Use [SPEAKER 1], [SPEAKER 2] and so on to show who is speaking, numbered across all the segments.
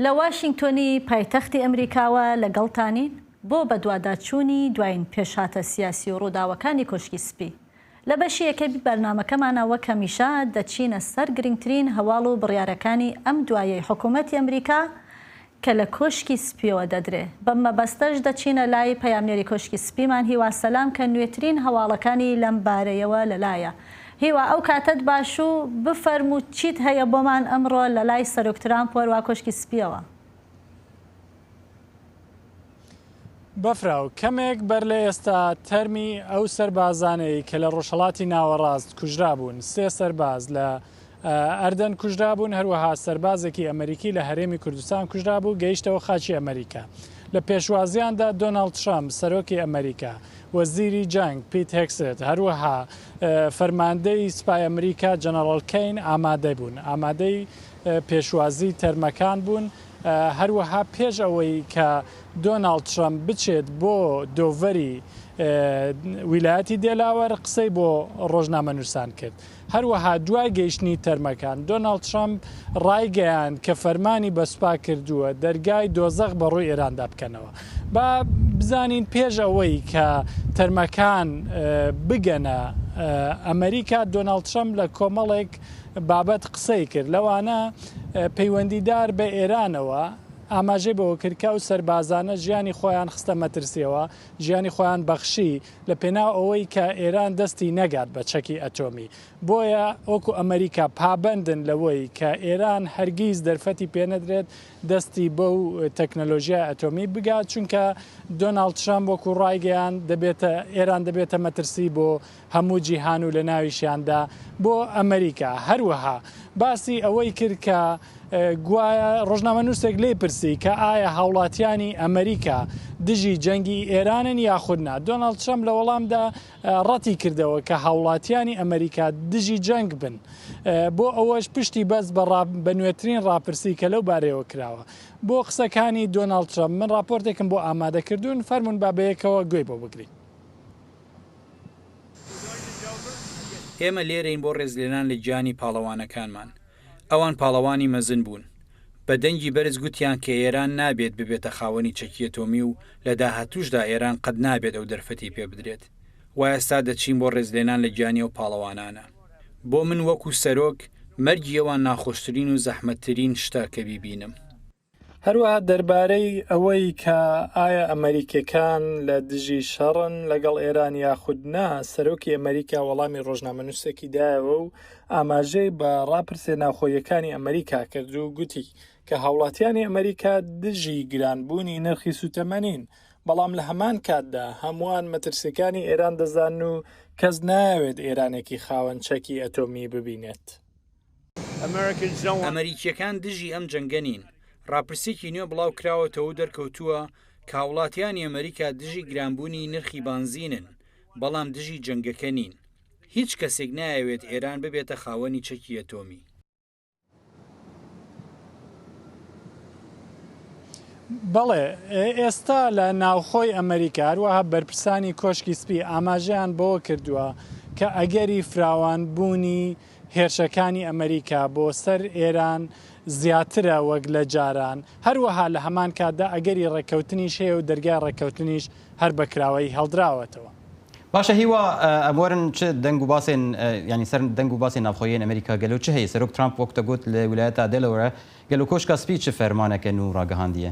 [SPEAKER 1] لە واشینگتۆنی پایتەختی ئەمریکاوە لەگەڵتانین بۆ بەدواداچوونی دوایین پێشهاتە سیاسی و ڕووداوەکانی کۆشکی سپی. لە بەشی یەکەمی بەرنامەکەمانا وەک هەمیشە دەچینە سەر گرنگترین هەواڵ و بڕیارەکانی ئەم دواییەی حکوومەتی ئەمریکا کە لە کۆشکی سپییەوە دەدرێ. بەم مەبەستەش دەچینە لای پەیامنێری کۆشکی سپیمان هیوا سەلام کە نوێترین هەواڵەکانی لەم بارەیەوە لەلایە. هیوا ئەو کاتەت باش و بفەرموو چیت هەیە بۆمان ئەمڕۆ لەلای سەرۆک ترامپ و هەروا کۆشکی سپییەوە.
[SPEAKER 2] بەفراو، کەمێک بەر لە ئێستا تەرمی ئەو سەربازانەی کە لە ڕۆژهەڵاتی ناوەڕاست کوژرابوون، سێ سەرباز لە ئەردەن کوژرابوون، هەروەها سەربازێکی ئەمەریکی لە هەرێمی کوردستان کوژرابوو، گەیشتەوە خاکی ئەمەریکا. لە پێشوازییاندا دۆناڵد ترەمپ، سەرۆکی ئەمەریکا، وەزیری جەنگ پیت هێگسێت، هەروەها فەرماندەی سوپای ئەمریکا جەنەڕاڵ کەین ئامادە بوون، ئامادەی پێشوازیی تەرمەکان بوون. هەروەها پێش ئەوەی کە دۆناڵد ترەمپ بچێت بۆ دۆڤەری ویلایەتی دێلاوەر، قسەی بۆ ڕۆژنامەنووسان کرد. هەروەها دوای گەیشتنی تەرمەکان، دۆناڵد ترەمپ ڕایگەیاند کە فەرمانی بە سوپا کردووە دەرگای دۆزەخ بە ڕووی ئێراندا بکەنەوە. با بزانین پێش ئەوەی کە تەرمەکان بگەنە ئەمەریکا، دۆناڵد ترەمپ لە کۆمەڵێک بابەت قسەی کرد، لەوانە پەیوەندیدار بە ئێرانەوە، ئاماژەی بەوە کرد کە ئەو سەربازانە ژیانی خۆیان خستە مەترسییەوە، ژیانی خۆیان بەخشی. لە پێناو ئەوەی کە ئێران دەستی نەگات بە چەکی ئەتۆمی. بۆیە وەکو ئەمەریکا پابەندن لەوەی کە ئێران هەرگیز دەرفەتی پێنەدرێت دەستی بەو تەکنەلۆژیای ئەتۆمی بگات، چونکە دۆناڵد ترەمپ وەکو ڕایگەیاند دەبێتە ئێران دەبێتە مەترسی بۆ هەموو جیهان و لەناویشیاندا بۆ ئەمەریکا. هەروەها باسی ئەوەی کرد کە، گوایە ڕۆژنامەنووسێک لێی پرسی کە ئایا هاوڵاتیانی ئەمریکا دژی جەنگی ئێرانن یاخود نا، دۆناڵد ترەمپ لە وەڵامدا ڕەتی کردەوە کە هاوڵاتیانی ئەمریکا دژی جەنگ بن، بۆ ئەوەش پشتی بەست بە نوێترین ڕاپرسی کە لەو بارەیەوە کراوە. بۆ قسەکانی دۆناڵد ترەمپ من ڕاپۆرتێکم بۆ ئامادە کردوون، فەرموون با بەیەکەوە گوێی بۆ بگرین.
[SPEAKER 3] ئێمە لێرەین بۆ ڕێزلێنان لە گیانی پاڵەوانەکانمان. ئەوان پاڵەوانی مەزن بوون. بە دەنگی بەرز گوتیان کە ئێران نابێت ببێتە خاوەنی چەکی ئەتۆمی و لە داهاتووشدا ئێران قەت نابێت ئەو دەرفەتی پێ بدرێت. وا ئێستا دەچین بۆ ڕێزلێنان لە گیانی ئەو پاڵەوانانە. بۆ من وەکوو سەرۆک، مەرگی ئەوان ناخۆشترین و زەحمەتترین شتە کە بیبینم. هەروەها
[SPEAKER 2] دەربارەی ئەوەی کە ئایا ئەمەریکییەکان لە دژی شەڕن لەگەڵ ئێران یاخود نا، سەرۆکی ئەمەریکا وەڵامی ڕۆژنامەنووسێکی دایەوە و ئاماژەی بە ڕاپرسییە ناوخۆییەکانی ئەمەریکا کرد و گوتی کە هاوڵاتیانی ئەمەریکا دژی گرانبوونی نرخی سووتەمە نین، بەڵام لە هەمان کاتدا هەمووان مەترسییەکانی ئێران دەزانن و کەس نایەوێت ئێرانێکی خاوەن چەکی ئەتۆمی ببینێت.
[SPEAKER 3] ئەمەریکییەکان دژی ئەم جەنگە نین. ڕاپرسێکی نوێ بڵاوکراوەتەوە و دەرکەوتووە کە هاوڵاتیانی ئەمەریکا دژی گرانبوونی نرخی بانزینن، بەڵام دژی جەنگەکە نین. هیچ کەسێک نایەوێت ئێران ببێتە خاوەنی چەکی ئەتۆمی.
[SPEAKER 2] بەڵێ، ئێستا لە ناوخۆی ئەمەریکا، هەروەها بەرپرسانی کۆشکی سپی ئاماژەیان بەوە کردووە کە ئەگەری فراوانبوونی، هێرشەکانی ئەمەریکا بۆ سەر ئێران زیاترە وەک لە جاران، هەروەها لە هەمان کاتدا ئەگەری ڕێککەوتنیش هەیە و دەرگای ڕێککەوتنیش هەر بە کراوەیی هەڵدراوەتەوە. باشە هیوا
[SPEAKER 4] ئەمۆرن چ دەنگ و باسێن یانی سەر دەنگ و باسێن ناوخۆیێن ئەمەریکا گەلۆ چ هەیە؟ سەرۆک ترامپ وەک تە گۆت لە ولایەتا دێلەورە گەلۆ کۆشکا سپی چ فەرمانەکە نوو ڕاگەهاندیە؟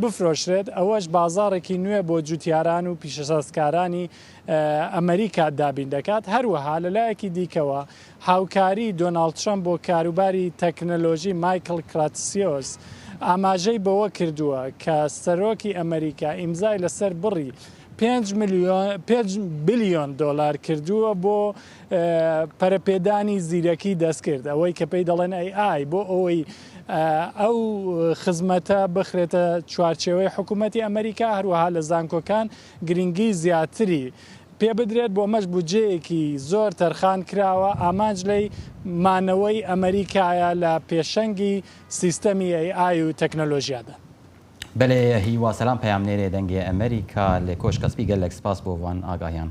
[SPEAKER 2] بفرۆشرێت، ئەوەش بازاڕێکی نوێ بۆ جووتیاران و پیشەسازکارانی ئەمریکا دابین دەکات، هەروەها لەلایەکی دیکەوە هاوکاری دۆناڵد ترەمپ بۆ کاروباری تەکنەلۆژی مایکڵ کراتسیۆس ئاماژەی بەوە کردووە کە سەرۆکی ئەمریکا ئیمزای لەسەر بڕی پێنج بلیۆن دۆلار کردووە بۆ پەرەپێدانی زیرەکی دەستکرد ئەوەی کە پێی دەڵێن AI بۆ ئەوەی ئەو خزمەتە بخرێتە چوارچێوەی حکوومەتی ئەمەریکا، هەروەها لە زانکۆکان گرنگیی زیاتری پێ بدرێت، بۆمەش بودجەیەکی زۆر تەرخان کراوە، ئامانج لێی مانەوەی ئەمەریکایە لە پێشەنگی سیستەمی ئەی ئای و تەکنەلۆژیادا.
[SPEAKER 4] بەلێ هیوا سەلام پەیامنێرێ دەنگێ ئەمەریکا لە کۆشکە سپی گەللەک سپاس بۆ ڤان ئاگاهیان.